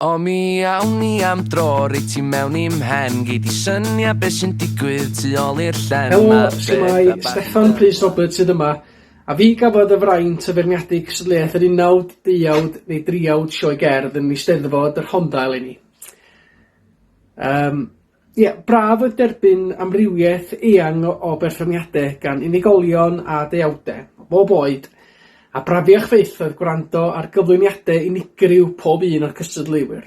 O mi awn ni am dro, rei ti mewn i'm mhen Gei di synia beth sy'n digwydd tu ôl i'r llen Helo, shwmae, Steffan Rhys Roberts sydd yma, a fi gafodd y fraint o feirniadu cystadleuaeth yr unawd, deuawd neu driawd sioe gerdd yn Eisteddfod y Rhondda eleni. Um, Ie, braf oedd derbyn amrywiaeth eang o, o berfformiadau gan unigolion a deuawdau, o bob oed, a brafiach fyth oedd gwrando ar gyflwyniadau unigryw pob un o'r cystadleuwyr.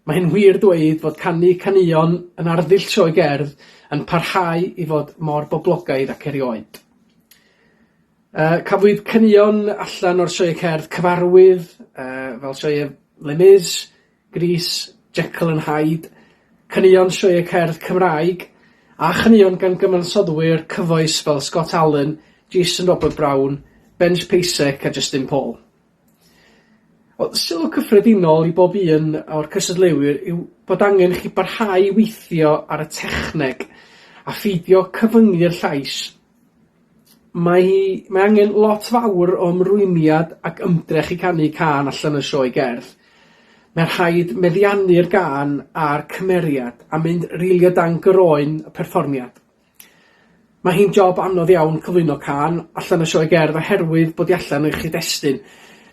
Mae hyn wir dweud fod canu caneuon yn arddull sioe gerdd yn parhau i fod mor boblogaidd ac erioed. Uh, cafwyd caneuon allan o'r sioe cerdd cyfarwydd, uh, fel sioe Les Mis, Grys, Jekyll and Hyde, caneuon sioeau cerdd Cymraeg, a chaneuon gan gyfansoddwyr cyfoes fel Scott Allan, Jason Robert Brown, Ben Spacek a Justin Paul. Wel, sylw cyffredinol i bob un o'r cystadleuwyr yw bod angen chi barhau i weithio ar y techneg a pheidio cyfyngu'r llais. Mae hi... Mae angen lot fawr o ymrwymiad ac ymdrech i canu cân allan o sioe gerdd. Mae'n rhaid meddiannu'r gân a'r cymeriad a mynd rili o dan groen y perfformiad. Mae hi'n job anodd iawn cyflwyno cân allan o sioe gerdd oherwydd bod hi allan o'i chyd-destun,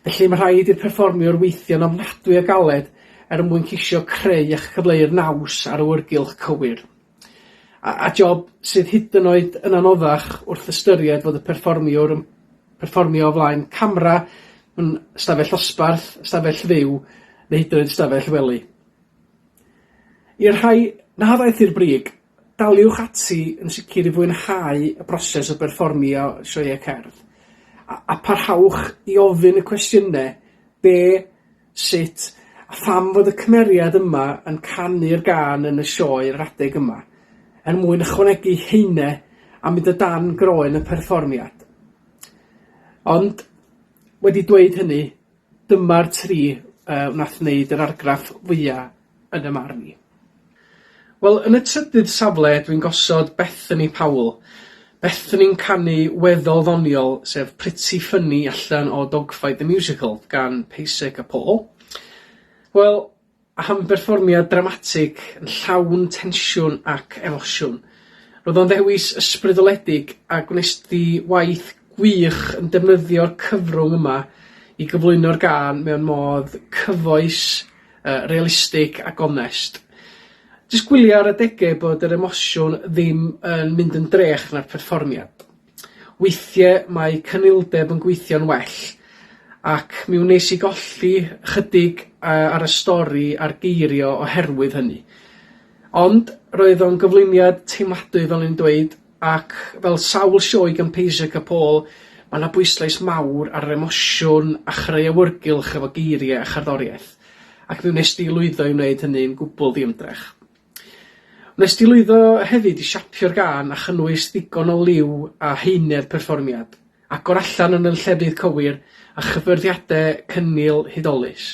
felly mae rhaid i'r perfformiwr weithio'n ofnadwy o galed er mwyn ceisio creu a chyfleu'r naws a'r awyrgylch cywir. A, a job sydd hyd yn oed yn anoddach wrth ystyried fod y perfformiwr yn perfformio o flaen camera mewn ystafell osbarth, ystafell fyw, neu hyd yn oed ystafell wely. I'r rhai na ddaeth i'r brig, daliwch ati yn sicr i fwynhau y broses o berfformio sioeau cerdd, a, a parhawch i ofyn y cwestiynau, be Sut a pham fod y cymeriad yma yn canu'r gân yn y sioe yr adeg yma? Er mwyn ychwanegu haene a mynd o dan groen y perfformiad. Ond, wedi dweud hynny, dyma'r tri yy wnaeth wneud yr argraff fwya' yn y marn i. Wel, yn y trydydd safle dwi'n gosod Bethany Powell. Bethany'n canu weddol ddoniol, sef Pretty Funny allan o Dogfight the Musical gan Pasek a Paul. Wel, am berfformiad dramatig yn llawn tensiwn ac emosiwn. Roedd o'n ddewis ysbrydoledig a gwnes di waith gwych yn defnyddio'r cyfrwng yma i gyflwyno'r gân mewn modd cyfoes uh, realistig a gonest. Jyst gwylio ar adegau bod yr emosiwn ddim yn mynd yn drech na'r perfformiad. Weithiau mae cynildeb yn gweithio'n well, ac mi wnes i golli chydig uh, ar y stori a'r geirio oherwydd hynny. Ond roedd o'n gyflwyniad teimladwy fel yn dweud, Ac fel sawl sioe gan Pasek a Paul, mae yna bwyslais mawr ar yr emosiwn a chreu awyrgylch efo geiriau a cherddoriaeth, ac mi wnes di lwyddo i wneud hynny'n gwbl ddiymdrech. Wnes di lwyddo hefyd i siapio'r gân a chynnwys ddigon o liw a haenedd perfformiad, agor allan yn y llefydd cywir, a chyffyrddiadau cynnil hudolus.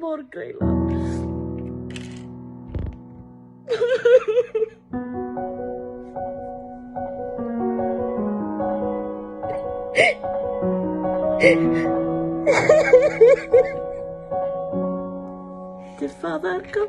Mor greulon. Dy fatha argol.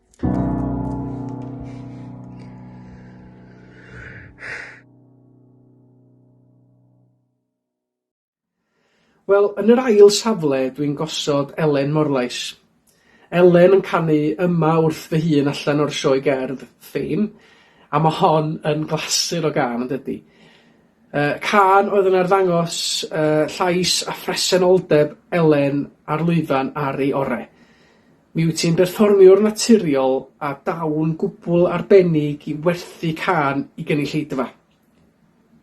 Wel, yn yr ail safle dwi'n gosod Elen Morlais. Elen yn canu yma wrth fy hun allan o'r sioe gerdd Fame, a mae hon yn glasur o gan, yn dydy? Uh, can oedd yn arddangos uh, llais a phresenoldeb Elen ar lwyfan ar ei orau. Mi wyt ti'n berfformiwr naturiol a daw'n gwbl arbennig i werthu cân i gynulleidfa.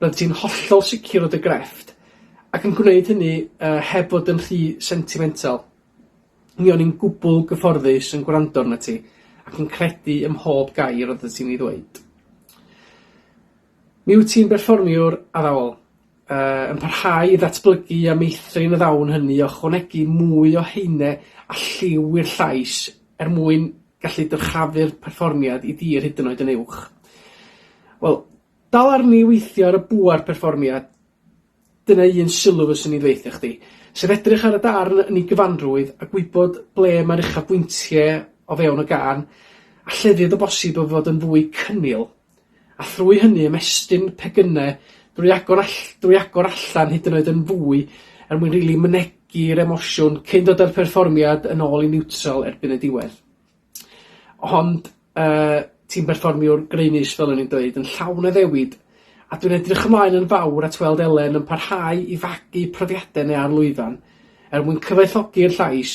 Roeddet ti'n hollol sicr o dy grefft, ac yn gwneud hynny yy heb fod yn rhy sentimental. Mi o'n i'n gwbl gyfforddus yn gwrando arnat ti, ac yn credu ym mhob gair roeddet ti'n ei ddweud. Mi wyt ti'n berfformiwr addawol. Yy, yn parhau i ddatblygu a meithrin y ddawn hynny, ychwanegu mwy o haene a lliw i'r llais er mwyn gallu dyrchafu'r perfformiad i dir hyd yn oed yn uwch. Wel, dal arni weithio ar y bŵer perfformiad, dyna un sylw fyswn i'n dweithio chdi, sef edrych ar y darn yn ei gyfanrwydd a gwybod ble mae'r uchafbwyntiau o fewn y gan, a llefydd o bosib o fod yn fwy cynnil. a thrwy hynny ymestyn pegynne drwy agor all- drwy agor allan hyd yn oed yn fwy er mwyn rili mynegi'r emosiwn cyn dod â'r perfformiad yn ôl i niwtral erbyn y diwedd. Ond yy ti'n berfformiwr graenus fel o'n i'n dweud yn llawn addewid a dwi'n edrych ymlaen yn fawr at weld Elen yn parhau i fagu profiadau neu ar lwyfan er mwyn cyfoethogi'r llais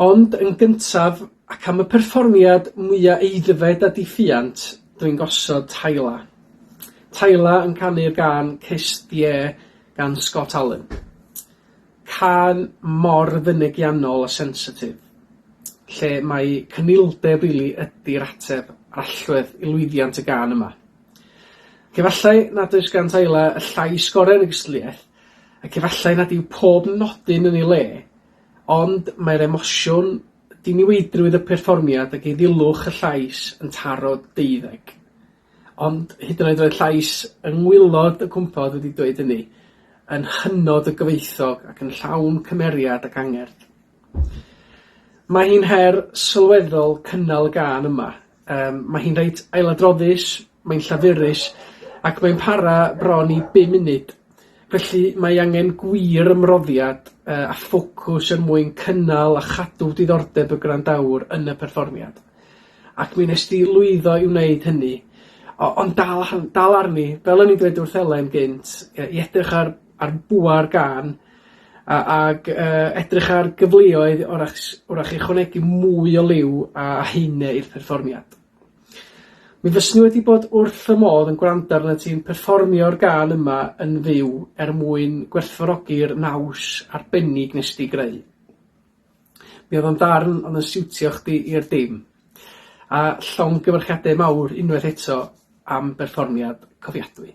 Ond yn gyntaf, ac am y perfformiad mwya aeddfed a diffuant, dw i'n gosod Tyla. Tyla yn canu'r gân 'Kiss the Air' gan Scott Allan. Cân mor fynegiannol a sensitif, lle mai cynildeb rili ydi'r ateb a'r allwedd i lwyddiant y gân yma. Ac efallai nad oes gan Tyla y llais gorau yn y gystadleuaeth, Ac efallai nad yw pob nodyn yn ei le, ond mae'r emosiwn, diniweidrwydd y perfformiad ac eiddilwch y llais yn taro deuddeg. Ond hyd yn oed roedd llais yng ngwaelod y cwmpawd wedi dweud hynny, yn hynod o gyfoethog ac yn llawn cymeriad ac angerdd. Mae hi'n her sylweddol cynnal y gân yma. Yym, mae hi'n reit ailadroddus, mae'n llafurus, ac mae'n para bron i bum munud. Felly, mae angen gwir ymroddiad uh, a ffocws er mwyn cynnal a chadw diddordeb y gwrandawr yn y perfformiad. Ac mi nes di lwyddo i wneud hynny. O, ond dal, dal arni, fel o'n i'n dweud wrth Elen gynt, i edrych ar ar bŵer gân a ag yy edrych ar gyfleoedd orach s- orach i ychwanegu mwy o liw a haenau i'r perfformiad. Mi fyswn i wedi bod wrth fy modd yn gwrando arnat ti'n perfformio'r gân yma yn fyw er mwyn gwerthfawrogi'r naws arbennig nes di greu. Mi oedd o'n darn ond yn siwtio chdi i'r dim. A llon gyfarchiadau mawr unwaith eto am berfformiad cofiadwy.